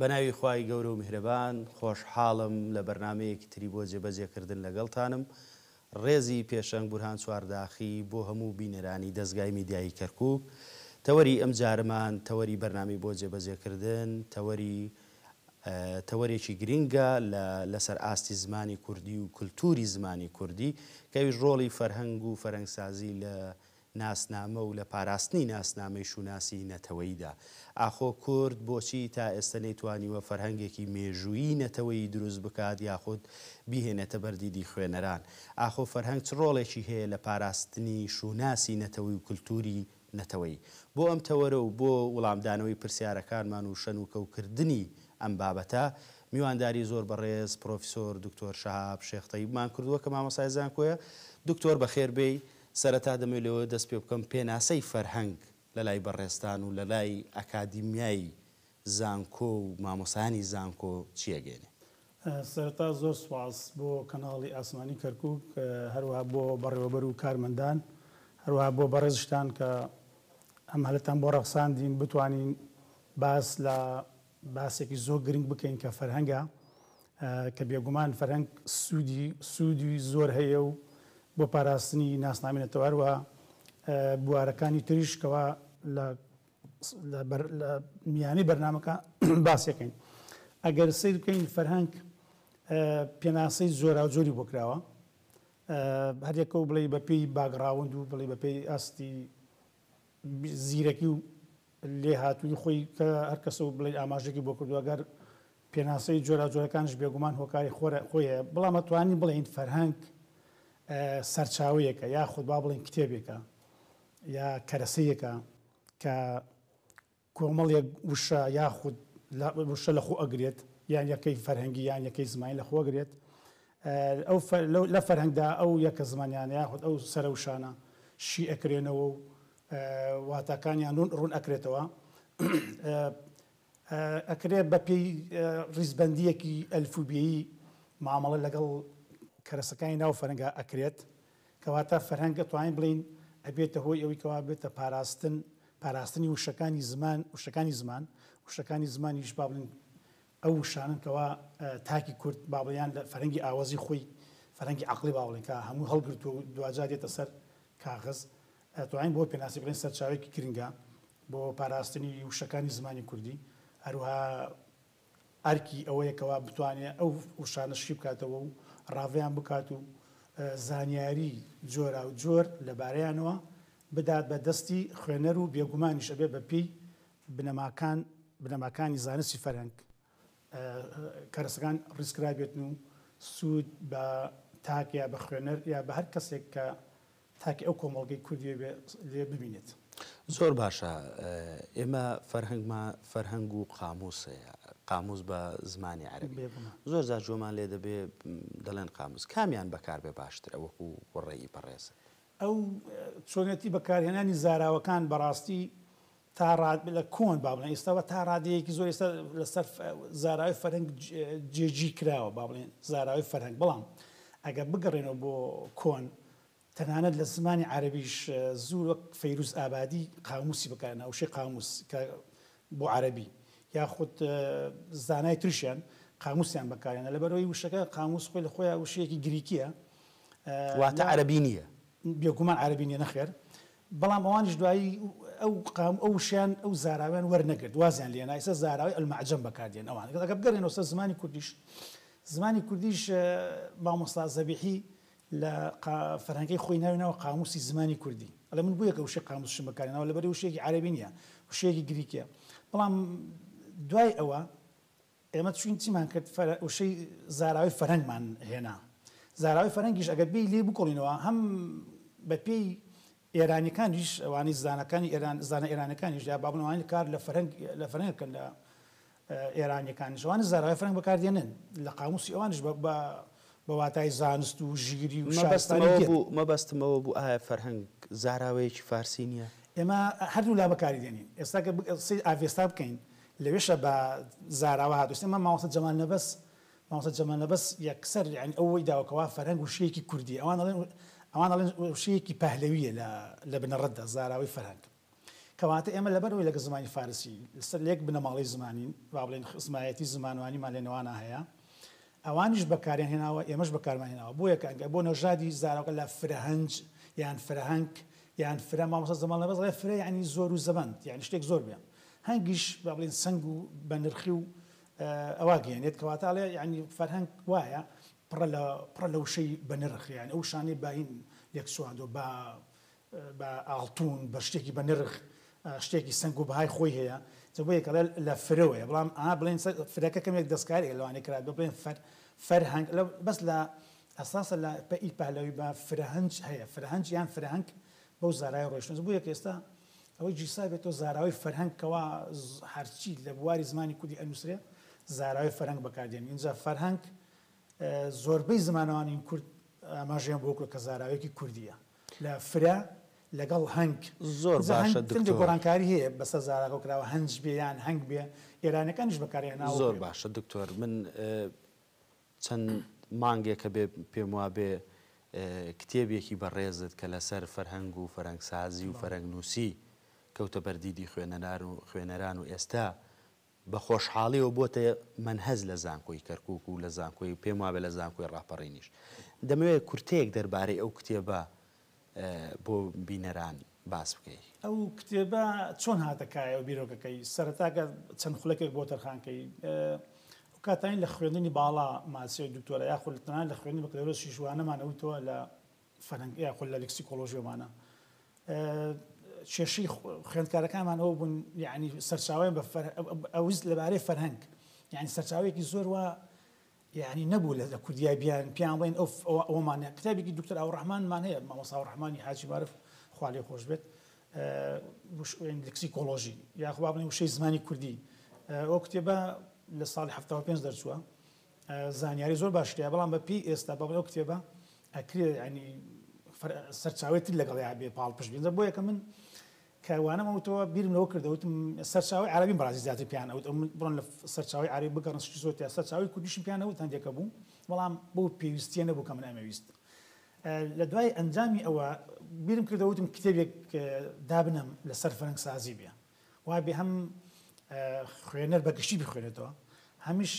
بەناوی خوای گەورە و میهرەبان خۆشحاڵم لە بەرنامەیەکی تری بۆ جێبەجێ کردن لەگەڵتانم ڕێزی پێشەنگ بورهان چوارداخی بۆ هەموو بینەرانی دەزگای میدیایی کەرکوک تەوەری ئەم جارەمان تەوەری بەرنامەی بۆ جێبەجێ کردن تەوەری تەوەرێکی گرینگە لە لەسەر ئاستی زمانی کوردی و کلتوری زمانی کوردی کەویش ڕۆڵی فەرهەنگ و فەرەنگسازی لە ناسنامە و لە پاراستنی ناسنامەی شوناسی نەتەوەییدا. ئاخۆ کورد بۆچی تا ئێستە نەیتوانیوە فەرهەنگێکی مێژوویی نەتەوەیی دروست بکات یاخود بیهێنێتە بەر دیدی خوێنەران؟ ئاخۆ فەرهەنگ چ ڕۆڵێکی هەیە لە پاراستنی شوناسی نەتەوەی و کلتووری نەتەوەیی؟ بۆ ئەم تەوەرە و بۆ وڵامدانەوەی پرسیارەکانمان و شەنوکەوکردنی ئەم بابەتە، میوانداری زۆر بەڕێز پرۆفیسۆر دکتۆر شەهاب شێخ تەیبمان کردووە کە مامۆستای زانکۆیە. دکتۆر بەخێر بێی. سەرەتا دەمەوێت لەوێ دەست پێ بکەم پێناسەی فەرهەنگ لەلای بەڕێزتان و لەلای ئەکادیمیای زانکۆ و مامۆستایانی زانکۆ چی ئەگەینێ؟ سەرەتا زۆر سوپاس بۆ کەناڵی ئاسمانی کەرکوک هەروەها بۆ بەڕێوەبەر و کارمەندان هەروەها بۆ بەڕێزشتان کە ئەم هەلەتان بۆ ڕەخساندین بتوانین باس لە باسێکی زۆر گرنگ بکەین کە فەرهەنگە کە بێگومان فەرهەنگ سوودی سوودی زۆر هەیە و بۆ پاراستنی ناسنامی نەتەوە هەروەها بوارەکانی تریش کەوا لە لە میانی بەرنمەکە باسەکەین ئەگەر سیر بکەین فەرهەنگ پێناسەی زۆرا زۆری بۆ کراوە هەرێکە و بڵێ بەپی باگراوند و بڵێ بەپی ئاستی زیرەکی و لێهاتوویی خۆی کە هەر کەسە و بڵێین ئاماژەێکی بۆ کردووە، گەر پێناسەی جۆراوجۆرەکانیش بێگومان هۆکاری خۆرە خۆی هەیە، بەڵام ئەتوانین بڵێین فەرهەنگ سەرچاوەیەکە یاخود با بڵێین کتێبێکە یا کەرەسەیەکە کە کۆمەڵێک وشە یاخود وشە لەخۆ ئەگرێت یان یەکەی فەرهەنگی یان یەکەی زمانی لەخۆ ئەگرێت ئەو لە فەرهەنگدا ئەو یەکە زمانیانە یاخود ئەو سەرە وشانە شی ئەکرێنەوە و واتاکانیان ڕوون ئەکرێتەوە ئەکرێت بە پێی ڕیزبەندیەکی ئەلفوبێی مامەڵە لەگەڵ کەرەسەکانی ناو فەرەنگا ئەکرێت کەواتە فەرهەنگ ئەتوانین بڵێین ئەبێتە هۆی ئەوەی کەوا بێتە پاراستن، پاراستنی وشەکانی زمان، وشەکانی زمان، وشەکانی زمانیش با بڵێین ئەو وشانەن کەوا تاکی کورد با بڵێین یان لە فەرهەنگی ئاوەزی خۆی، فەرهەنگی عەقڵی با بڵێین کە هەمووی هەڵگرتووە و دواجار دێتە سەر کاغەز، ئەتوانین بەوە پێناسی بڵێین سەرچاوەیەکی گرنگە بۆ پاراستنی وشەکانی زمانی کوردی، هەروەها ئەرکی ئەوەیە کەوا بتوانێ ئەو وشانە شی بکاتەوە و ڕاڤەیان بکات و زانیاری جۆراوجۆر لەبارەیانەوە بدات بە دەستی خوێنەر و بێگومانیش ئەبێ بە پێی بنەماکان بنەماکانی زانستی فەرهەنگ کەرەسەکان ڕیزکرابێتن و سوود بە تاک یا بە خوێنەر یا بە هەر کەسێک کە تاکە ئەو کۆمەڵگەی کوردیە بێ لێ ببینێت. زۆر باشە ئێمە فەرهەنگمان فەرهەنگ و قامووس هەیە قامووس بە زمانی عەرەبی بێ گومان. زۆر جار جۆمان لێ دەبێ دەڵێن قامووس کامیان بەکار بێ باشترە وەکوو وڕێی بەڕێزت؟ ئەو چۆنێتی بەکارهێنانی زاراوەکان بەڕاستی تا ڕا لە کۆن با بڵێن ئێستا وە تا ڕادەیەکی زۆر ئێستا لە سەر زاراوەی فەرهەنگ جێ جی کراوە با بڵێن زاراوەی فەرهەنگ بەڵام ئەگەر بگەڕێنەوە بۆ کۆن تەنانەت لە زمانی عەرەبیش زور وەک فەیروز ئابادی قاموسی بەکار هێنا وشەی قاموس کە بۆ عەرەبی یاخود زانای ترشیان قاموسیان بەکار هێنا لەبەر ئەوەی وشەکە قاموس خۆی لە خۆیان وشەیەکی گریکییە واتە عەرەبی نییە. بێگومان عەرەبی نییە نەخێر بەڵام ئەوانیش دوایی ئەو قام ئەو وشەیان ئەو زاراوەیان وەرنەگرت وازیان لێنا ئیستا زاراوەی المعجم بەکاردێن ئەوان ئەگەر بگەرێنەوە سەر زمانی کوردیش زمانی کوردیش مامۆستا زەبیحی لە قا فەرهەنگەی خۆی ناوی ناوە قاموسی زمانی کوردی ئەڵێ من بویەکە وشەی قاموسشم بەکارێناوە لەبەری وشەیەکی عەرەبی نیە وشەیەکی گریکیە بەڵام دوای ئەوە ئێمە چوین چیمان کرد فە وشەی زاراوەی فەرهەنگمان هێنا زاراوەی فەرهەنگیش ئەگەر بێی لێی بکۆڵینەوە هەم بە پێی ئێرانیەکانیش ئەوانەی زانەکانی ئێران زانە ئێرانەکانیش یا با بڵێم ئەوانەی کار لە فەرهەنگ لە فەرهەنگ کەن لە ئێرانیەکانیش ئەوانە زاراوەی فەرهەنگ بەکاردێنن لە قاموسی ئەوانیش بە بە بە واتای زانست و ژیری و شارستانی مەبەستمەوە دێت. بوو مەبەستمەوە بوو ئایا فەرهەنگ زاراوەیەکی فارسی نیە؟ ئێمە هەردوو لا بەکاری دێنین ئێستا گەر بگ قسەی ئاڤێستا بکەین لەوێشە بە زاراوە هاتووە ئەمە مامۆستا جەمال نەبەز مامۆستا جەمال نەبەز یەکسەر یانی ئەوەی داوە کەوا فەرهەنگ وشەیەکی کوردییە ئەوان ئەڵێن ئەوان ئەڵێن وشەیەکی پەهلەوییە لە لە بنەڕەتدا زاراوەی فەرهەنگ کەواتە ئێمە لەبەرئەوەی لەگەڵ زمانی فارسی لەسەر لە یەک بنەماڵەی زمانین با بڵێین خزمایەتی زمانوانیمان لە نێوانان هەیە ئەوانیش بەکاریان هێناوە ئێمەش بەکارمان هێناوە بۆیە کە ئەگەر بۆ نەژادی زاراوەکە لە فرەهەنج یان فرەهەنگ یان فرە مامۆستا زمان لەبەز ئەڵێ فرە یانی زۆرو زەبەند یانی شتێک زۆر بێ هەنگیش با بڵێین سەنگ و بە نرخی و ئەوا گەیەنێت کەواتە ئەڵێ یانی فەرهەنگ وایە پڕە لە پڕە لە وشەی بە نرخ یان ئەو شانەی باین لێک چواندوە با بە ئاڵتون بە شتێکی بە نرخ شتێکی سەنگ و بەهای خۆی هەیە جا بۆیە کەڵێ لە فرەوەیە بەڵام ئا بڵێن فرەکە کەمێک دەستکاریە لەوانەیە کرا بێ بڵێن فەر فەرهەنگ لە بەس لە ئەساسە لە پە ئی پەهلەوی بە فرەهەنج هەیە فرەهەنج یان فرەهەنگ بەو زارای ڕۆیشتن جا بۆیە کە ئێستا ئەوەی جیسا بێتەوە زاراوەی فەرهەنگ کەوا هەرچی لە بواری زمانی کوردی ئەنووسرێ زاراوەی فەرهەنگ بەکاردێن ئینجا فەرهەنگ زۆربەی زمانەوانین کورد ئاماژەیان بۆ کە زاراوەیەکی کوردییە. لە فرە لەگەڵ هەنگ. زۆر جا باشە هەنگ هەندێک دکتۆر. گۆڕانکاری هەیە بەسەر زاراکەوە کراوە هەنج بێ یان هەنگ بێ ئێرانیەکانیش بەکاری هێناوە زۆر بێ. باشە دکتۆر من چەند مانگێکە بێ پێم وابێ کتێبێکی بەڕێزت کە لەسەر فەرهەنگ و فەرەنگسازی و فەرەنگنووسی کەوتە بەر دیدی خوێنەران و خوێنەران و ئێستا بە خۆشحاڵیەوە بۆتە مەنهەج لە زانکۆی کەرکوک و لە زانکۆی پێم وابێ لە زانکۆی ڕاپەڕینیش. دەمەوێ کورتەیەک دەربارەی ئەو کتێبە بۆ بینەران باس بکەی. ئەو کتێبە چۆن هاتە کایە و بیرۆکەکەی؟ سەرەتا گەر چەند خولەکێک بۆ تەرخان کەی. ئەو کاتانەی لە خوێندنی باڵا ماسیەو دکتۆرا یاخود تەنانەت لە خوێندنی بەکالۆرۆسیش وانەمان ئەوتەوە لە فەرەنگ یا خۆ لە لکسیکۆلۆژیۆمانە کێشەی خوێندکارەکانمان ئەو بوون یعنی سەرچاویان بە ئەوز لەبارەی فەرهەنگ یعنی سەرچاوێکی زۆر وە یعنی نەبوو لە لە کوردیای بیان پیان بڵین ئەو ئەومانە کتابێکی دکتر ئەو ڕحمانمان هەیە مامەسا ڕحمانی حاجی مارف خالی خۆش بێت لکسی کۆلۆژی یاخوا بڵێ وشەی زمانی کوردی ئەو کتێبە لە ساڵی 5 دەرچووە زانیاری زۆر باشت هەیە بەڵام بە پێی ئێستا بەڵێ ئەو کتێبە ئەکرێ یانی سەرچاوەی تر لەگەڵیا بێ پاڵپشت بێ بۆ یەکە من کە وانەم وتەوە بیرم لەوە کردە وتم سەرچاوی عەرەبیم بەڕازی زیاتر پێیان ئەوت ئەم بڕۆن لە سەرچاوی عەرەبی بگەڕن شتی زۆر تیا سەرچاوی کوردیشم پێیان ئەوت هەندێکە بوو بەڵام بەو پێویستیە نەبوو کە من ئەمەویست لە دوای ئەنجامی ئەوە بیرم کردە وتم کتێبێک دابنەم لەسەر فەرەنگسازی بێ وابێ هەم خوێنەر بە گشتی بخوێنێتەوە هەمیش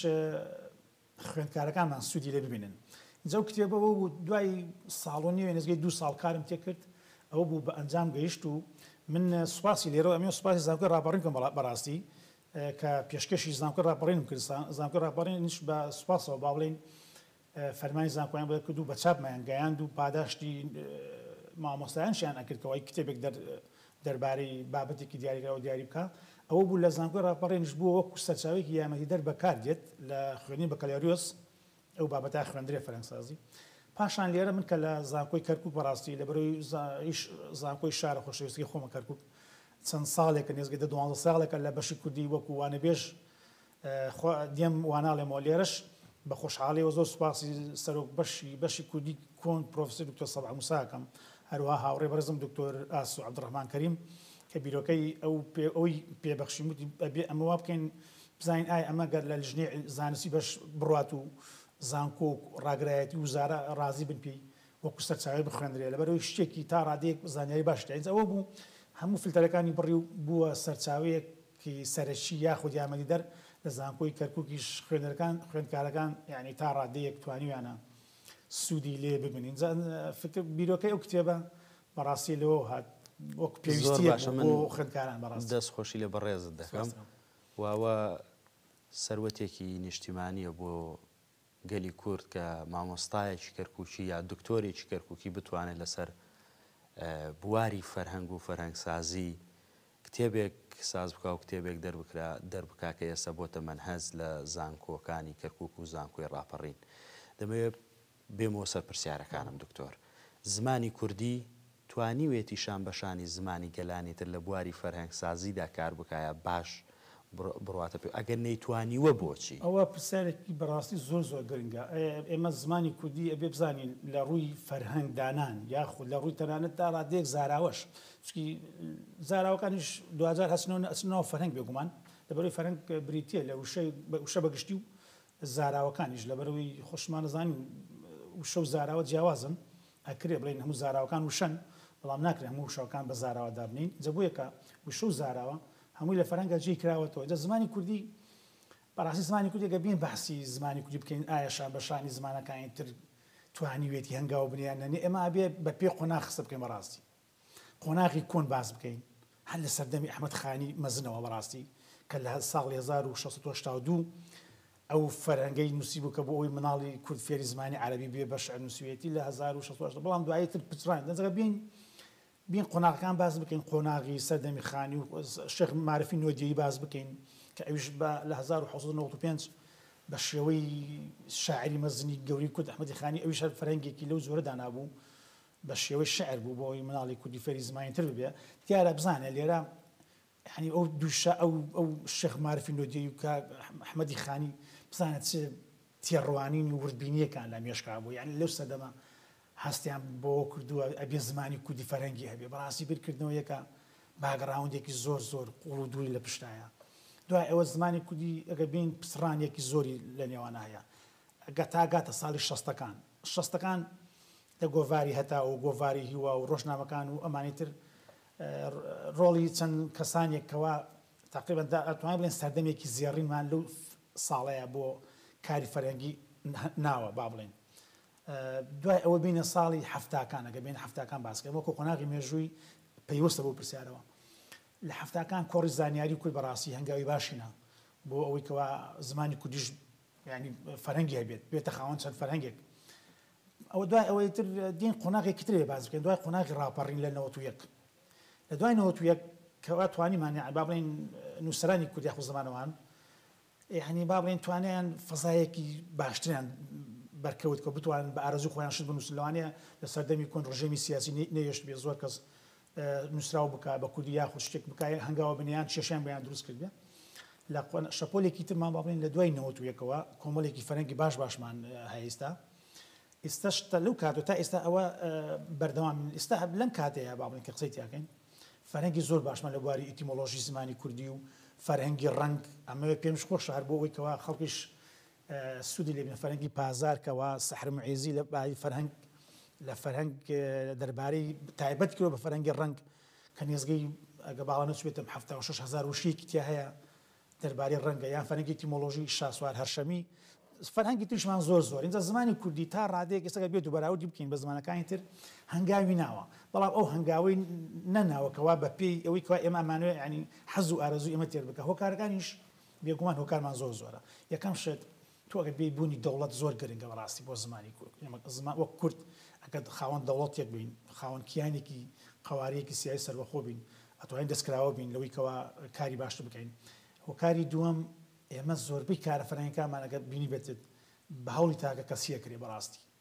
خوێندکارەکانمان سوودی لێ ببینن جا و کتێبە بۆ بوو دوای ساڵ و نیوێ نزگەی دو ساڵ کارم تێکرد ئەوە بوو بە ئەنجام گەیشت و من سوپاسی لێرەوە ئەمێ سوپاسی زانکۆی ڕاپەڕین کەم بەڕاستی کە پێشکەشی زانکۆی ڕاپەڕینم کرد زانکۆی ڕاپەڕینیش بە سوپاسەوە با بڵێین فەرمانی زانکۆیان بۆ دەرکردو بە چاپمایان گەیاند و پاداشتی مامۆستایانشیان ئەکرد کە وای کتێبێک دەر دەربارەی بابەتێکی دیاریکراو دیاری بکا ئەوە بوو لە زانکۆی ڕاپەڕینش بووە وەکو سەرچاوەیەکی یامەتیدەر بەکار دێت لە خوێندنی بەکالۆریۆس ئەو بابەتە خوێندرێ فەرەنگسازی پاشان لێرە من کە لە زانکۆی کەرکک بەڕاستی لە بەرەوەی زانکۆی شارە خۆشەویستی خۆمە کەرکک چەند ساڵێکە نێزگە دە دوانزە ساڵێکە لە بەشی کوردی وەکو وانەبێژ خوا دێم واناڵێمەوە لێرەش بە خۆشحاڵیەوە زۆر سوپاسی سەرۆک بەشی بەشی کوردی کۆن پرۆفیسۆر دکتۆر سەباح موسا ئەکەم هەروەها هاوڕێ بەڕێزم دکتۆر ئاسۆ عەبدوڕەحمان کەریم کە بیرۆکەی ئەو پێ ئەوی پێ بەخشیم وتی ئەبێ ئەمە وا بکەین بزانین ئایا ئەمە گەر لە لیژنەی زانستی بەش بڕات و زانکۆ و ڕاگرایەتی وزارە ڕازی بن پێی وەکو سەرچاوەی بخوێندرێ لەبەرئەوەی شتێکی تا ڕادەیەک زانیاری باشی تێ ئەنج ئەوە بوو هەموو فلتەرەکانی بڕی و بووە سەرچاوەیەک کی سەرەکی یاخود یارمەتیدەر لە زانکۆی کەرکوکیش خوێنەرەکان خوێندکارەکان یانی تا ڕادەیەک توانیویانە سوودی لێ ببن ئینجا فکر بیرۆکەی ئەو کتێبە بەڕاستی لەوەو هات وەک پێویستی باشە من بۆ خوێندکاران بەڕاست دەست خۆشی لە بەڕێزت دەکەم واوە سەروەتێکی نیشتیمانیە بۆ گەلی کورد کە مامۆستایەکی کەرکوکی یا دکتۆرێکی کەرکوکی بتوانێت لەسەر بواری فەرهەنگ و فەرهەنگسازی کتێبێک ساز بکە و کتێبێک دەربکرا دەربکا کە ئێستا بۆتە مەنهەج لە زانکۆکانی کەرکک و زانکۆی ڕاپەڕین دەمەوێت بێمەوە سەر پرسیارەکانم دکتۆر زمانی کوردی توانیوێتی شانبەشانی زمانی گەلانی تر لە بواری فەرهەنگسازیدا کار بکایە باش بڕواتە پێ ئەگەر نەیتوانیوە بۆچی؟ ئەوە پرسیارێکی بەڕاستی زۆر زۆر گرنگە. ئێمە زمانی کوردی ئەبێ بزانین لە ڕووی فەرهەنگ دانان یاخود لە ڕووی تەنانەت تا ڕادەیەک زاراوەش چونکی زاراوەکانیش دواجار ئەچنەوە ئەچنە ناو فەرهەنگ بێگومان لەبەرەوەی فەرهەنگ بریتییە لە وشەی وشە بە گشتی و زاراوەکانیش لەبەرەوەی خۆشمان ئەزانین وشە و زاراوە جیاوازن. ئەکرێ بڵێین هەموو زاراوەکان وشەن، بەڵام ناکرێ هەموو وشەکان بە زاراوە دابنێین، جا بۆیە کە وشە و زاراوە هەمووی لە فەرهەنگا جێی کراوەتەوە، جا زمانی کوردی بەڕاستی زمانی کوردی گەر بێین بەحسی زمانی کوردی بکەین ئایا شان بە شانی زمانەکانی تر توانیوێتی هەنگاو بنێ یان نەنێ ئێمە ئەبێ بە پێ قۆناغ قسە بکەین بەڕاستی. قۆناغی کۆن باس بکەین هەر لە سەردەمی ئەحمەد خانی مەزنەوە بەڕاستی کە لە ساڵی هەزار و شەش سەد و هەشتا و دوو ئەو فەرهەنگەی نووسیبوو کە بۆ ئەوەی مناڵی کورد فێری زمانی عەرەبی بێ بە شعر نووسیویەتی لە هەزار و شەش سەد و هەشتا بەڵام دوایی تر پچڕاند ئەجا بێین بین قۆناغەکان باس بکەین قۆناغی سەردەمی خانی و شێخ معرفی نۆدیەی باس بکەین کە ئەویش بە لە هەزار و حەوت سەد و نەوەد و پێنج بە شێوەی شاعری مەزنی گەورەی کورد ئەحمەدی خانی ئەویش هەر فەرهەنگێکی لەو جۆرە دانابوو بە شێوەی شعر بوو بۆ ئەوەی مناڵی کوردی فێری زمانی تر ببێ دیارە بزانێ لێرە یەعنی ئەو دوو شا ئەو ئەو شێخ مارفی نۆدێی و کاک ئەحمەدی خانی بزانە چ تێڕوانین و وردبینییەکان لە مێشکا بوو یەعنی لەو سەردەمە هەستیان بەوە کردووە ئەبێ زمانی کوردی فەرهەنگی هەبێ بەڕاستی بیرکردنەوەیەکە باگڕاوندێکی زۆر زۆر قووڵ و دووری لە پشتایە دوای ئەوە زمانی کوردی ئەگەر بین پچڕانێکی زۆری لە نێوانە هەیە گە تا گاتە ساڵی شەستەکان شەستەکان لە گۆڤاری هەتاو و گۆڤاری هیوا و ڕۆژنامەکان و ئەمانی تر ڕۆڵی چەند کەسانێک کەوا تەقریبەن دەتوانین بڵێین سەردەمێکی زێڕینمان لەو ساڵەیە بۆ کاری فەرهەنگی ناوە با بڵێین دوای ئەوە بینە ساڵی هەفتاکان ئەگە بین هەفتاکان باسکە وەکو قۆناغی مێژووی پەیوەستە بۆ پرسیارەوە لە هەفتاکان کۆڕی زانیاری کورد بەڕاستی هەنگاوی باشینە بۆ ئەوەی کەوا زمانی کوردیش ینی فەرەنگی هەبێت بێتە خاوەن چەند فەرهەنگێک ئەوە دوای ئەوەی تر دین قۆناغێکی ترێ باس بکەین دوای قۆناغی ڕاپەڕین لە نەوەت و یەک لە دوای نەوەت و یەک کەوا توانیمان یعنی با بڵێین نووسەرانی کورد یاخود زمانەوان یعنی با بڵێین توانیان فەزایەکی باشتریان بەرکەوت کە بتوانن بە ئارەزوو خۆیان شت بنووسن لەوانەیە لە سەردەمی کۆن ڕژێمی سیاسی نەهێشت بێ زۆر کەس نوسراو بکا بە کوردی یاخود شتێک بکا یان هەنگاوە بنێ یان کێشەیان بۆیان دروست کردبێ لە شەپۆلێکی ترمان با بڵێین لە دوای نەوەت و یەکەوە کۆمەڵێکی فەرەنگی باش باشمان هەیە ئێستا ئێستا شتە لەو کاتو تا ئێستا ئەوە بەردەوام ئێستا هەب لەم کاتەیە با بڵێن کە قسەی تیاکەین فەرەنگی زۆر باشمان لە بواری ئیتیمۆلۆژی زمانی کوردی و فەرهەنگی ڕەنگ ئەمەوێت پێمش خۆشە هەر بۆ ئەوەی کەوا خەڵکیش سوودی لە بنە فەرهەنگی پازار کەوا سەحر موعیزی لە باری فەرهەنگ لە فەرهەنگ دەربارەی تایبەت کردوە بە فەرهەنگی ڕەنگ کە نێزگەی ئەگە باوە نەچبێتم حەفتا و شەش هەزار وشەیەکی تیا هەیە دەربارەی ڕەنگە یان فەرهەنگی ئیتیمۆلۆژی شاسوار هەرشەمی فەرهەنگی تریشمان زۆر زۆر ئینجا زمانی کوردی تا ڕادەیەک ئێستا گەر بێت و بەراوردی بکەین بە زمانەکانی تر هەنگاوی ناوە بەڵام ئەو هەنگاوەی نەناوە کەوا بەپێی ئەوەی کوا ئێمە ئەمانوێ یانی حەز و ئارەزووی ئێمە تێر بکە هۆکارەکانیش بێگومان هۆکارمان زۆر زۆرە یەکەم شت تۆ ئەگەر بێی بوونی دەوڵەت زۆر گرنگە بەڕاستی بۆ زمانی کورد ئێمە زمان وەک کورد ئەگەر خاوەن دەوڵەتێک بین خاوەن کیانێکی قەوارەیەکی سیای سەربەخۆ بین ئەتوانین دەستکراوە بین لەوەی کەوا کاری باشتر بکەین هۆکاری دووەم ئێمە زۆربەی کارە فەرهەنگەکانمان ئەگەر بینی بێتت بە هەوڵی تاکە کەسیە کرێ بەڕاستی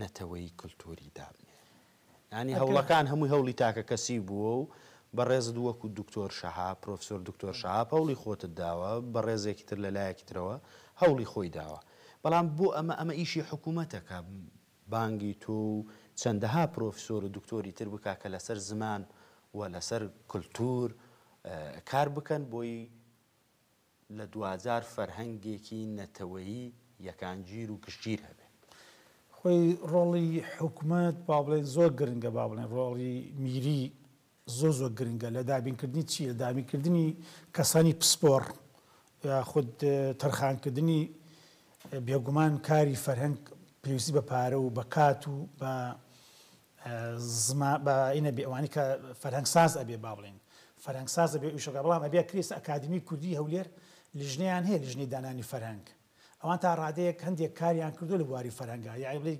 نەتەوەیی کلتوری دابنێ یانی هەوڵەکان هەمووی هەوڵی تاکە کەسی بووە و بەڕێزت وەکو دکتۆر شەهاب پرۆفسۆر دکتۆر شەهاب هەوڵی خۆتت داوە بەڕێزێکی تر لە لایەکی ترەوە هەوڵی خۆی داوە بەڵام بۆ ئەمە ئەمە ئیشی حکوومەتە کە بانگی تۆ و چەندەها پرۆفسۆر و دکتۆری تر بکا کە لەسەر زمان و لەسەر کلتور کار بکەن بۆی لە دواجار فەرهەنگێکی نەتەوەیی یەکانگیر و گشتگیر هەبێ. خۆی ڕۆڵی حکومەت با بڵێین زۆر گرنگە، با بڵێین ڕۆڵی میری زۆر زۆر گرنگە لە دابینکردنی چی؟ لە دابینکردنی کەسانی پسپۆڕ یاخود تەرخانکردنی بێگومان کاری فەرهەنگ پێویستی بە پارە و بە کات و بە زمان بە ی نەبێ ئەوانی کە فەرهەنگ ساز ئەبێ با بڵێین فەرهەنگ ساز ئەبێ ئیشۆ کە بەڵام ئەبێ کریس ئەکادمی کوردی هەولێر لیژنەیان هەیە لیژنەی دانانی فەرهەنگ ئەوان تا ڕادەیەک هەندێک کاریان کردو لە بواری فەرهەنگا یاعی بڵێ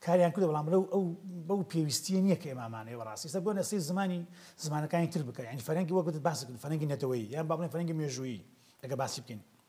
کاریان کردو بەڵام لەو ئەو بەو پێویستیە نییە کە ئێمامانەیە بەڕاستی سە بۆ نەسەی زمانی زمانەکانی تر بکە یانی فەرەنگی وەک وتت باسی کردن فەرەنگی نەتەوەیی یان با بڵێین فەرەنگی مێژوویی ئەگە باسی بکەین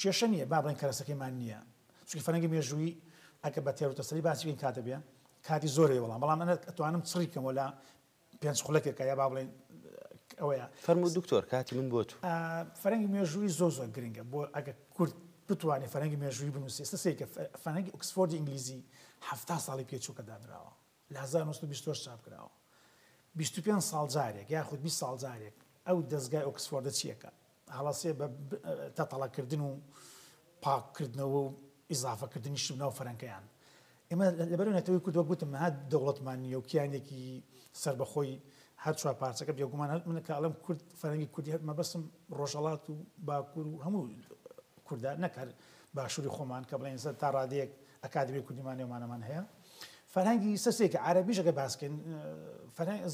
کێشە نییە با بڵێن کەرەسەکەیمان نییە، چونکی فەرهەنگی مێژوویی ئەگەر بە تێروتەسەلی باسی بکەین کات دەبێ، کاتی زۆر دەوێ وەڵام، بەڵام من ئەتوانم چڕی بکەمەوە لە پێنج خولەکێکا یا با بڵێین ئەوەیە. فەرموو دوکتۆر کاتی من بۆ تو. فەرهەنگی مێژوویی زۆر زۆر گرنگە بۆ ئەگەر کورد بتوانێ فەرهەنگی مێژوویی بنووسێ، ئێستا سەیرکە فەرهەنگی ئۆکسفۆردی ئینگلیزی حەفتا ساڵی پێ چوو کە دانراوە، لە هەزار و نۆ سەد و بیست و هەشت چاپ کراوە. بیست و پێنج ساڵ جارێک یاخود بیست ساڵ جارێک ئەو دەزگای ئۆکسفۆردە چیەکە هەڵەسێ بە تەتەڵە کردن و پاک کردنەوە و ئیزافە کردنی شت ناو فەرەنکەیان. ئێمە لەبەرو نەتەوەی کورد وەک گوتم نەها دەوڵەتمان نیە و کیانێکی سەربەخۆی هەر چوار پارچەکە بێگومان هەر من کە ئەڵێم کورد فەرەنگی کوردی هەر مەبەستم ڕۆژهەڵات و باکور و هەموو کوردە نەک هەر باشوری خۆمان کە بڵێن تا ڕادەیەک ئەکادمی کوردیمان نێومانەمان هەیە. فەرهەنگی سەسێکی عارەبیش ئەگەر باس بکەین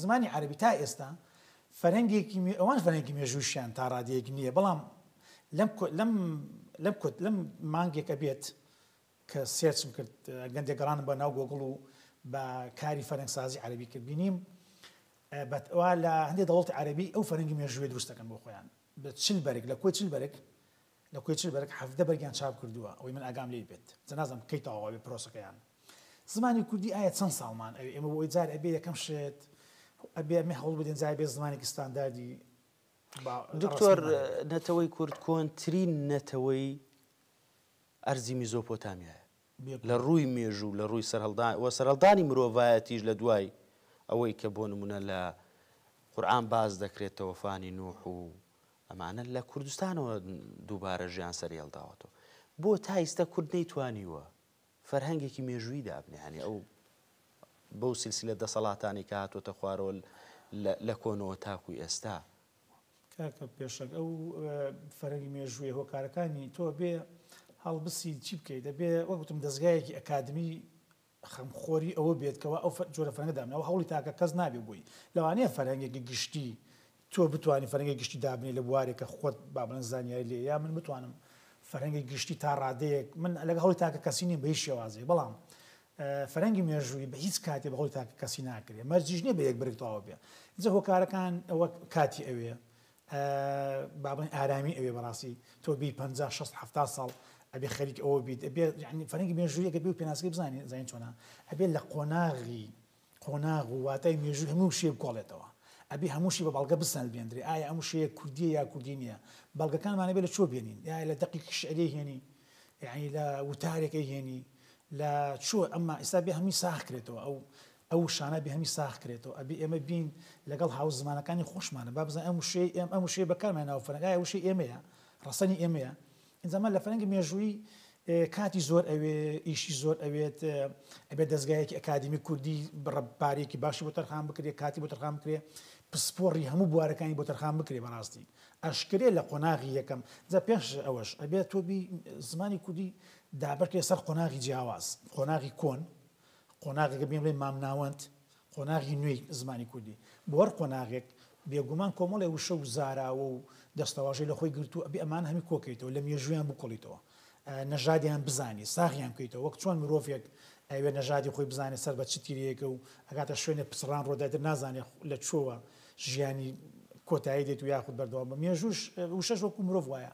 زمانی عربی تا ئێستا فەرەنگێکی ئەوان فەرەنگی مێژووشیان تا ڕادەیەک نییە بەڵام لەم لەم لەم کوت لەم مانگێکە بێت کە سێرچم کرد گەندێک گەڕانم بە ناو گۆگڵ و بە کاری فەرەنگسازی عربی کرد بینیم بەوا لە هەندێک دەوڵەتی عربی ئەو فەرەنگی مێژووی دروستەکەن بۆ خۆیان بە چل بەرگ لە کۆی چل بەرگ لە کۆی چل بەرگ حەڤدە بەرگیان چاپ کردووە ئەوەی من ئاگام لێی بێت جا نازانم کەی تەواو ئەبێ پرۆسەکەیان زمانی کوردی ئایا چەند ساڵمان ئەوێ ئێمە بۆ ئەوەی جار ئەبێ یەکەم شت ئەبێ ئەمێ هەوڵ بدەین جا ئەبێ زمانێکی ستانداردی دکتۆر نەتەوەی کورد کۆنترین نەتەوەی ئەرزی میزۆپۆتامیایە لە ڕووی مێژوو لە ڕووی سەرهەڵدان و سەرهەڵدانی مرۆڤایەتیش لە دوای ئەوەی کە بۆ نموونە لە قورئان باس دەکرێت تەوەفانی نوح و ئەمانە لە کوردستانەوە دووبارە ژیان سەری هەڵداوەتەوە بۆ تا ئیستا کورد نەیتوانیوە فەرهەنگێکی مێژووی دابنیانی ئەو بەو سلسلە دەسەڵاتانی کە هاتووەتە خوارەوە لە کۆنەوە تاکوی ئێستا کاکە پێشەنگ ئەو فەرەنگی مێژوویە هۆکارەکانی تۆ بێ هەڵبسی چی بکەی دەبێ وەک وتم دەزگایەکی ئەکادمی خەمخۆری ئەوە بێت کەوا ئەو جۆرە فەرەنگە دابنێ ئەو هەوڵی تاکە کەس نابێ بۆی لەوانەیە فەرەنگێکی گشتی تۆ بتوانی فەرەنگی گشتی دابنێ لە بوارێک کە خۆت با بڵێن زانیاری لێ یا من بتوانم فەرەنگی گشتی تا ڕادەیەک من لەگە هەوڵی تاکە کەسی نیم بە هیچ شێوازێک بەڵام فەرەنگی مێژوویی بە هیچ کاتێ بە هەوڵی تاک کەسی ناکرێ مەرجیش نیە بە یەک بەرگ تەواو بێ ئینجا هۆکارەکان ئەوە کاتی ئەوێ با بڵێین ئارامی ئەوێ بەڕاستی تۆ بی پەنجا شەست حەفتا ساڵ ئەبێ خەریک ئەوە بیت ئەبێ یعنی فەرەنگی مێژوویەکە بێ و پێناسەکەی بزانین زانین چۆنە ئەبێ لە قۆناغی قۆناغ و واتای مێژووی هەموو وشەیەک بکۆڵێتەوە. ئەبێ هەموو شی بە بەڵگە بسەلمێندرێ، ئایا ئەم وشەیە کوردییە یا کوردی نییە؟ بەڵگەکانمان ئەبێ لە چۆ بێنین؟ ئایا لە دەقێکی شیعری ئەیهێنی؟ یانی لە وتارێک ئەیهێنی؟ لە چۆ؟ ئەمما ئیستا ئەبێ هەمووی ساغ کرێتەوە، ئەو ئەو وشانە ئەبێ هەمووی ساغ کرێتەوە. ئەبێ ئێمە بین لەگەڵ هاوزمانەکانی خۆشمان، با بزانین ئەم وشەیە ئێم ئەم وشەیە بەکارمان هێناوە فەرەنگ، ئایا وشەی ئێمەیە؟ ڕەسەنی ئێمەیە؟ زەمەن لە فەرەنگی مێژوویی کاتی زۆر ئەوێ ئیشی زۆر ئەوێت ئەبێت دەزگایەکی ئەکادمی کوردی بڕە پارێکی باشی بۆ تەرخان بکرێ کاتی بۆ تەرخان بکرێ پسپۆڕی هەموو بوارەکانی بۆ تەرخان بکرێ بەڕاستی ئەشکرێ لە قۆناغی یەکەم جا پێش ئەوەش ئەبێت تۆبی زمانی کوردی دابرکێ سەر قۆناغی جیاواز قۆناغی کۆن قۆناغێکە بێن بڵێ مامناوەند قۆناغی نوێی زمانی کوردی بۆ هەر قۆناغێک بێگومان کۆمەڵێ وشە و زاراوە و دەستەواژەی لە خۆی گرتووە، ئەبێ ئەمانە هەمی کۆکەیتەوە، لە مێژوویان بکۆڵیتەوە، نەژادیان بزانی، ساغیان بکەیتەوە، وەک چۆن مرۆڤێک ئەیەوێ نەژادی خۆی بزانێ سەر بە چ تیرەیەکە و ئەگاتە شوێنێ پچڕان ڕۆدای تر نازانێ لە کوێوە ژیانی کۆتایی دێت و یاخود بەردەوام بە مێژووش وشەش وەکو مرۆڤ وایە،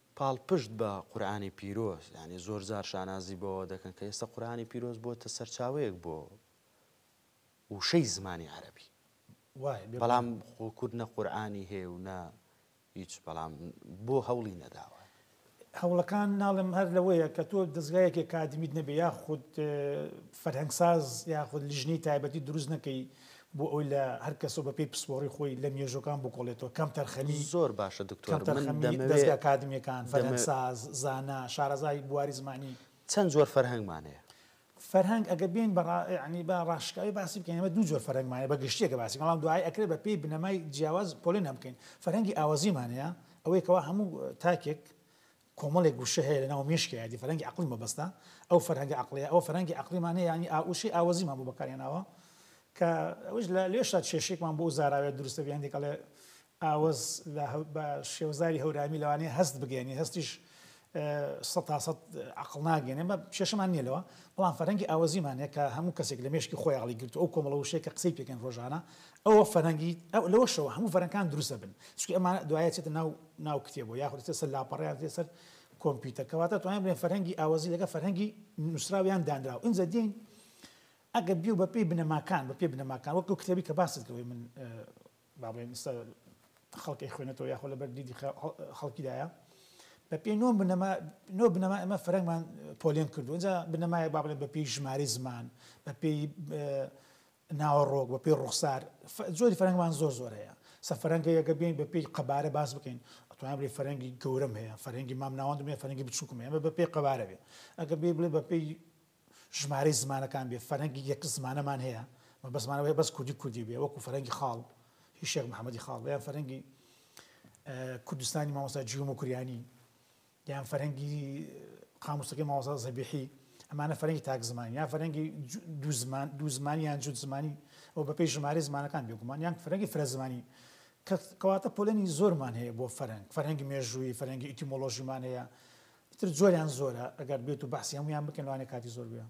پاڵپشت بە قورئانی پیرۆز، یانی زۆرجار شانازی بەوە دەکەن کە ئێستا قورئانی پیرۆز بۆتە سەرچاوەیەک بۆ وشەی زمانی عەرەبی. وایە بێ بەڵام گومان. خۆ کورد نە قورئانی هەیە و نە هیچ، بەڵام بۆ هەوڵی نەداوە؟ هەوڵەکان ناڵێم هەر لەوەیە کە تۆ دەزگایەکی ئەکادیمیت نەبێ یاخود فەرهەنگساز یاخود لیژنەی تایبەتی دروست نەکەی بۆ ئەوەی لە هەر کەس و بە پێی پسپۆڕی خۆی لە مێژووەکان بکۆڵێتەوە کەمتەرخەمی، زۆر باشە دکتۆر من دەمەوێ کەمتەرخەمی دەزگا ئەکادمیەکان، دەمە. فەرهەنگساز، زانا، شارەزای بواری زمانی. چەند جۆر فەرهەنگمان هەیە؟ فەرهەنگ ئەگەر بێین بە ڕا یەعنی با ڕاشکاوی باسی بکەین ئێمە دوو جۆر فەرهەنگمان هەیە بە گشتی ئەگەر باسی بکەین بەڵام دوایی ئەکرێ بە پێی بنەمای جیاواز پۆلێنیان بکەین فەرهەنگی ئاوەزیمان هەیە ئەوەیە کەوا هەموو تاکێک کۆمەڵێک وشە هەیە لە ناو مێشکی عێدی فەرهەنگی عەقڵی مەبەستە ئەو فەرهەنگە عەقڵیە ئەوە فەرهەنگی عەقڵیمان هەیە یانی ئا وشەی ئاوەزیمان بۆ بەکار هێناوە کە ئەوەیش لە لێشا کێشەیەکمان بۆ ئەو زاراوەیە دروست دەبێ هەندێک ئەڵێ ئاوەز لە هە بە شێوەزاری هەورامی لەوانەیە هەست بگەیەنی هەستیش سەد تا سەد عەقڵ ناگەێنێ بە کێشەمان نییە لەوە بەڵام فەرەنگی ئاوەزیمان هەیە کە هەموو کەسێک لە مێشکی خۆی عەقڵی گرتووە ئەو کۆمەڵە وشەیە کە قسەی پێکەن ڕۆژانە ئەوە فەرەنگی ئەو لەوەشەوە هەموو فەرەنکان دروستە بن چونکی ئەمانە دوایە چێتە ناو ناو کتێبەوە یاخود ئیتر سەر لاپەڕە یان دێتە سەر کۆمپیوتەر کەواتە دەتوانین بڵێین فەرهەنگی ئاوەزی لەگەڵ فەرهەنگی نووسراو یان دانراو ئینجا دێین ئەگەر بیو بە پێی بنەماکان بە پێی بنەماکان وەک ئەو کتێبی کە باست کردەوەی من با بڵێین ئێستا خەڵک ئەیخوێنێتەوە یاخۆ لەبەر دیدی خەڵکیدایە بە پێی نۆ بنەما نۆ بنەما ئەمە فەرەنگمان پۆلێن کردو ئینجا بنەمایە با بڵێن بە پێی ژمارەی زمان بە پێی ناوەڕۆک، بە پێی ڕوخسار، جۆری فەرهەنگمان زۆر زۆر هەیە. سە فەرهەنگە یەگە بێین بە پێی قەبارە باس بکەین، ئەتوانین بڵێی فەرهەنگی گەورەم هەیە، فەرهەنگی مام ناوەندم هەیە، فەرهەنگی بچووکم هەیە، ئەمە بە پێی قەبارە بێ. ئەگەر بێین بڵێین بە پێی ژمارەی زمانەکان بێ، فەرهەنگی یەک زمانەمان هەیە، مەبەستمانە ئەوەیە بەس کوردی کوردی بێ، وەکوو فەرهەنگی خاڵ، هی شێخ محەمەدی خاڵ، یان فەرهەنگی کوردستانی مامۆستا جیو موکریانی. یان فەرهەنگی قامووسەکەی مامۆستا زەبیحی، ئەمانە فەرهەنگی تاک زمانین، یان فەرهەنگی دوو زمان، دوو زمانی یان جووت زمانی و بەپێی ژمارەی زمانەکان بێگومان، یان فەرهەنگی فرە زمانی، کە کەواتە پۆلێنی زۆرمان هەیە بۆ فەرهەنگ، فەرهەنگی مێژوویی، فەرهەنگی ئیتیمۆلۆژیمان هەیە، ئیتر زۆریان زۆرە، ئەگەر بێت و بەحسی هەموویان بکەین لەوانەیە کاتی زۆر بوێ.